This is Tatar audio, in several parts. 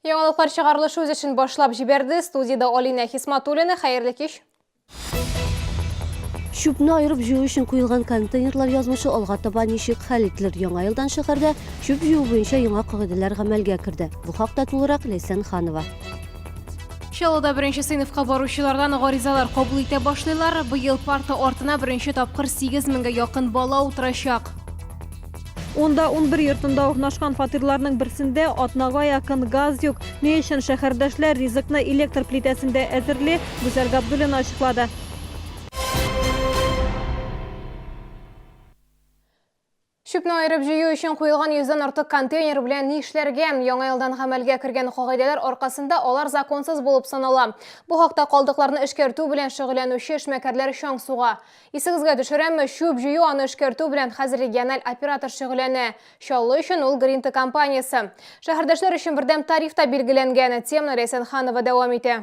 Яңалыклар чыгарылышы үз эшен башлап җибәрде. Студиядә Алина Хисматуллина. Хәерле кич. Чүпне айырып җыю өчен куелган контейнерлар язмышы алга таба ничек хәл ителер? Яңа елдан шәһәрдә чүп җыю буенча яңа кагыйдәләр гамәлгә керде. Бу хакта тулырак Ләйсән Ханова. Чаллыда беренче сыйныфка баручылардан гаризалар кабул итә башлыйлар. Быел парта артына беренче тапкыр 8 меңгә якын бала утырачак. Унда 11 йортында урнашкан фатирларның берсендә Атнагая Кынгазюк. Ни өчен шәһәрдәшләр ризыкны электр плитәсендә әзерли, Гүзәл Габдуллина ачыклады. Чүпне аерып җыю өчен куелган йөздән артык контейнер белән ни эшләргә? Яңа елдан гамәлгә кергән кагыйдәләр аркасында алар законсыз булып санала. Бу хакта калдыкларны эшкәртү белән шөгыльләнүче эшмәкәрләр чаң суга. Исегезгә төшерәме, чүп җыю, аны эшкәртү белән хәзер региональ оператор шөгыльләнә. Чаллы өчен ул Гринта компаниясе. Шәһәрдәшләр өчен бердәм тариф та билгеләнгән. Теманы Ләйсән Ханова дәвам итә.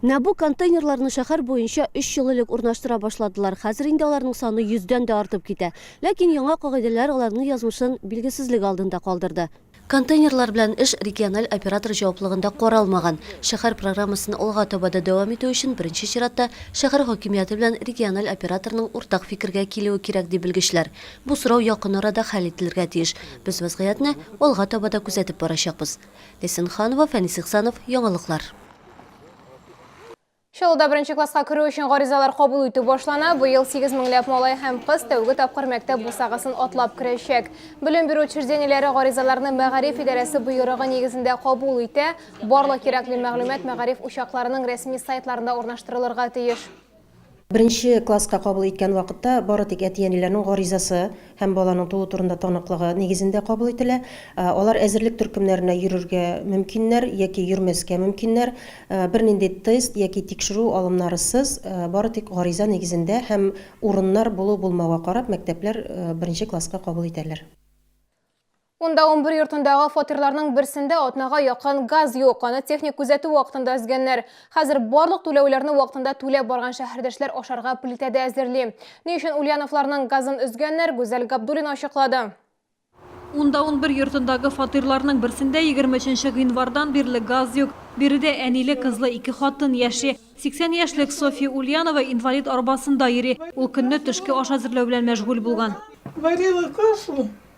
Нә бу контейнерларны шәһәр буенча өч ел элек урнаштыра башладылар. Хәзер инде аларның саны йөздән дә артып китә. Ләкин яңа кагыйдәләр аларның язмышын билгесезлек алдында калдырды. Контейнерлар белән эш региональ оператор җаваплыгында каралмаган. Шәһәр программасын алга таба да дәвам итү өчен, беренче чиратта, шәһәр хакимияте белән региональ операторның уртак фикергә килүе кирәк, ди белгечләр. Бу сорау якын арада хәл ителергә тиеш. Без вәзгыятьне алга таба да күзәтеп барачакбыз. Ләйсән Ханова, Фәнис Ихсанов, яңалыклар. Чаллыда беренче класска керү өчен гаризалар кабул итү башлана. Быел 8 меңләп малай һәм кыз тәүге тапкыр мәктәп бусагасын атлап керәчәк. Белем бирү учреждениеләре гаризаларны мәгариф идарәсе боерыгы нигезендә кабул итә. Барлык кирәкле мәгълүмат мәгариф учакларының рәсми сайтларында урнаштырылырга тиеш. Беренче класска кабул иткән вакытта бары тик әти-әниләрнең гаризасы һәм баланың туу турында таныклыгы нигезендә кабул ителә. Алар әзерлек төркемнәренә йөрергә мөмкиннәр яки йөрмәскә мөмкиннәр. Бернинди тест яки тикшерү алымнарысыз, бары тик гариза нигезендә һәм урыннар булу-булмауга карап мәктәпләр беренче класска кабул итәләр. Унда унбер йортындагы фатирларның берсендә атнага якын газ юк, аны техник күзәтү вакытында өзгәннәр. Хәзер барлык түләүләрне вакытында түләп барган шәһәрдәшләр ашарга плитә дә әзерли. Ни өчен Ульяновларның газын өзгәннәр, Гүзәл Габдуллина ачыклады. Унда унбер йортындагы фатирларның берсендә егерме өченче гыйнвардан бирле газ юк. Биредә әниле-кызлы ике хатын яши. 80 яшьлек Софья Ульянова инвалид арбасында йөри. Ул көнне төшке аш әзерләү белән мәшгуль булган. Варила кашу.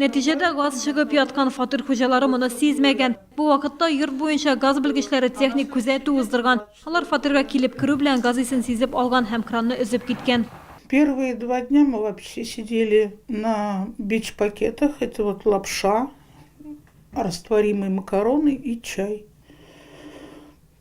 Нәтиҗәдә газ чыгып яткан фатир хуҗалары моны сизмәгән. Бу вакытта йорт буенча газ белгечләре техник күзәтү уздырган. Алар фатирга килеп керү белән газ исен сизеп алган һәм кранны өзеп киткән. Первые два дня мы вообще сидели на бич пакетах, это вот лапша, растворимые макароны и чай.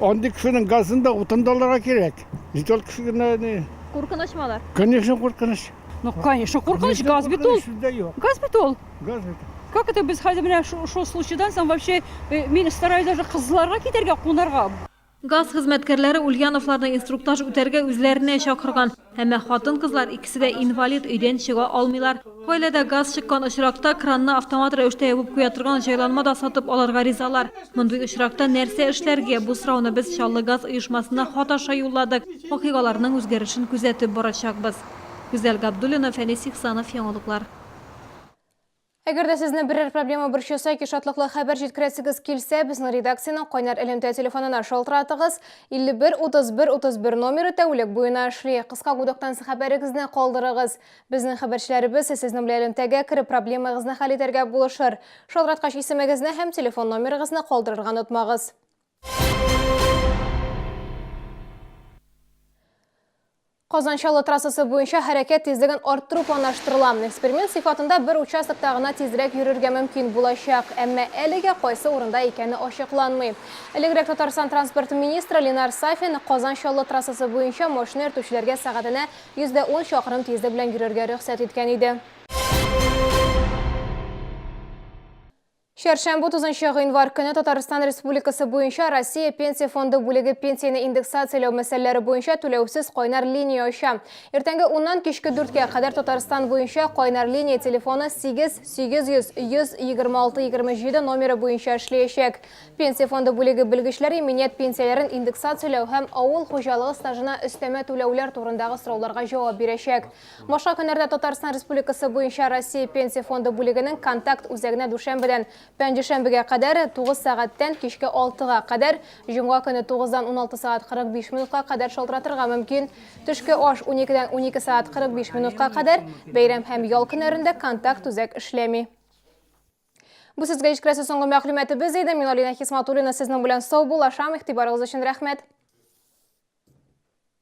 Андый кешенең газын да, утын да алырга кирәк. Җит ул кеше генә ни. Куркыныч малар. Конечно, куркыныч. Ну, конечно, куркыныч, газ бит ул. Газ бит ул. Газ бит. Как это без хәзер менә шул случайдан соң вообще э, мин стараюсь даже кызларга китәргә, кунарга. Газ хезмәткәрләре Ульяновларны инструктаж үтәргә үзләренә чакырган. Әмма хатын-кызлар икесе дә инвалид, өйдән чыга алмыйлар. Гаиләдә газ чыккан очракта, кранны автомат рәвештә ябып куя торган җайланма да сатып алырга ризалар. Мондый очракта нәрсә эшләргә? Бу сорауны без Чаллы газ оешмасына хат аша юлладык. Вакыйгаларның үзгәрешен күзәтеп барачакбыз. Гүзәл Габдуллина, Фәнис Ихсанов, Яңалыклар. Әгәр дә сезне берәр проблема борчыса яки шатлыклы хәбәр җиткерәсегез килсә, безнең редакциянең кайнар элемтә телефонына шалтыратыгыз. 51 31 31 номеры тәүлек буена эшли. Кыска гудоктан хәбәрегезне калдырыгыз. Безнең хәбәрчеләребез сезнең белән элемтәгә кереп проблемагызны хәл итәргә булышыр. Шалтыраткач исемегезне һәм телефон номерыгызны калдырырга онытмагыз. Казан-Чаллы трассасы буенча хәрәкәт тизлеген арттыру планлаштырыла. Эксперимент сыйфатында бер участокта гына тизрәк йөрергә мөмкин булачак. Әмма әлегә кайсы урында икәне ачыкланмый. Элегрәк Татарстан транспорт министры Ленар Сафин Казан-Чаллы трассасы буенча машина йөртүчеләргә сәгатенә 110 чакрым тизлек белән йөрергә рөхсәт иткән иде. Чәршәмбе 30 гыйнвар көне Татарстан Республикасы буенча Россия Пенсия фонды бүлеге пенсияне индексацияләү мәсьәләләре буенча түләүсез кайнар линия ача. Иртәнге 10-нан кичке 4-кә кадәр Татарстан буенча кайнар линия телефоны 8 800 100 26 27 номеры буенча эшләячәк. Пенсия фонды бүлеге белгечләре иминият пенсияләрен индексацияләү һәм авыл хуҗалыгы стажына өстәмә түләүләр турындагы сорауларга җавап бирәчәк. Башка көннәрдә Татарстан Республикасы буенча Россия Пенсия фонды бүлегенең контакт үзәгенә дүшәмбедән пәнҗешәмбегә кадәр 9 сәгатьтән кичке 6 га кадәр, җомга көне 9 дан 16 сәгать 45 минутка кадәр шалтыратырга мөмкин. Төшке аш 12 дән 12 сәгать 45 минутка кадәр, бәйрәм һәм ял көннәрендә контакт үзәк эшләми. Бу сезгә җиткерәсе соңгы мәгълүматыбыз иде. Мин Алина Хисматуллина сезнең белән сау булашам. Игътибарыгыз өчен рәхмәт.